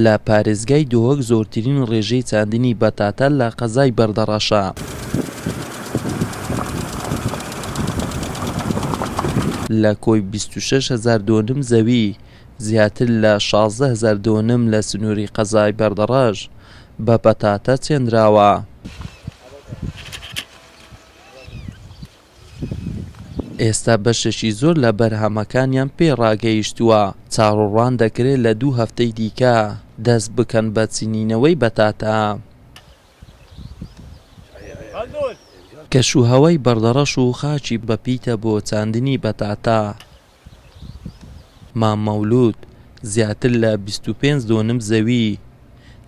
لە پارێزگای دهۆک زۆرترین ڕێژەی چاندنی بەتاتە لە قەزای بەردەڕەشە. لە کۆی بیست و شەش هەزار دۆنم زەوی، زیاتر لە شازدە هەزار دۆنم لە سنووری قەزای بەردەڕەش بە پەتاتە چێندراوە. ئێستا بەشێکی زۆر لە بەرهەمەکانیان پێ ڕاگەیشتووە، چاوەڕوان دەکرێت لە دوو هەفتەی دیکە دەست بکەن بە چنینەوەی بەتاتا. کەشوهەوای بەردەڕەش و خاکی بەپیتە بۆ چاندنی بەتاتا. مام مەولوود زیاتر لە بیست و پێنج دۆنم زەوی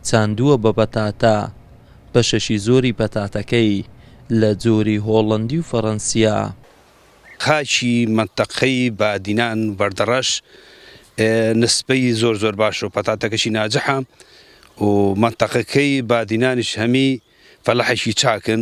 چاندووە بە پەتاتە، بەشێکی زۆری پەتاتەکەی لە جۆری هۆڵەندی و فەرەنسییە. خاکی مەنتەقەی بادینان بەردەڕەش نسبەی زۆر زۆر باشە و پەتاتەکەشی ناجحە و مەنتەقەکەی بادینانیش هەمی فەلاحێکی چاکن.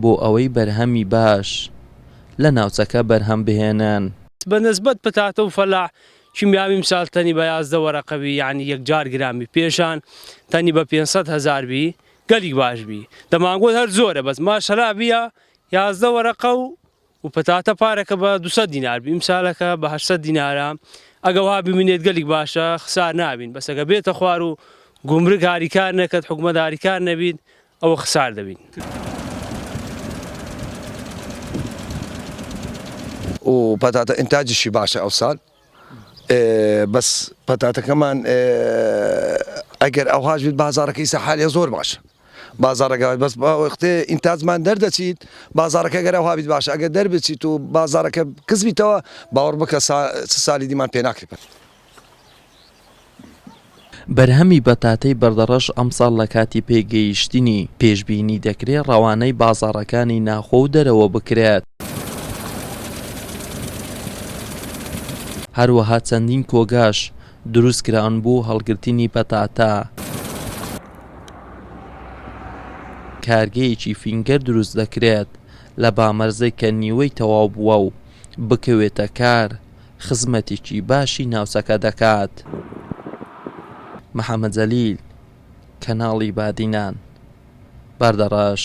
بۆ ئەوەی بەرهەمی باش لە ناوچەکە بەرهەم بهێنن. بە نسبەت پتاتە و فەلاح کیمیاوی ئمسال تەنی بە یازدە وەرەقە بی یەعنی یەکجار گران بی پێشان تەنی بە پێنج سەد هەزار بی گەلیک باش بی دەمانگۆت هەر زۆرە بەس ماشەلا بیە یازدە وەرەقە و و پتاتە پارەکە بە دوو سەد دینار بی ئمسالەکە بە هەشت سەد دینارە ئەگە وەها بمینێت گەلیک باشە خسار نابین بەس ئەگە بێتە خوار و گومرگ هاریکار نەکەت حکومەت هاریکار نەبیت ئەوە خسار دەبین. و پەتاتە ئینتاجیشی باشە ئەوسال بەس پەتاتەکەمان ئەگەر ئەوهاش بێت بازارەکەی سەحالێ زۆر باشە بازارەکە بەس وەختێ ئینتاجمان دەردەچیت بازارەکە گەرەوها بیت باشە ئەگە دەربچیت و بازارەکە کزبیتەوە باوەڕ بکە سالی دیمان پێناکرێت. بەرهەمی بەتاتەی بەردەڕەش ئەمساڵ لە کاتی پێگەیشتنی پێشبینی دەکرێت ڕەوانەی بازاڕەکانی ناخۆ و دەرەوە بکرێت. هەروەها چەندین کۆگاش دروستکراون بۆ هەڵگرتنی پەتاتە. کارگەیەکی فینگەر دروست دەکرێت لە بامەرزێک کە نیوەی تەواو بووە و بکەوێتە کار، خزمەتێکی باشی ناوچەکە دەکات. محەمەد جەلیل، کەناڵی بادینان، باردەڕەش،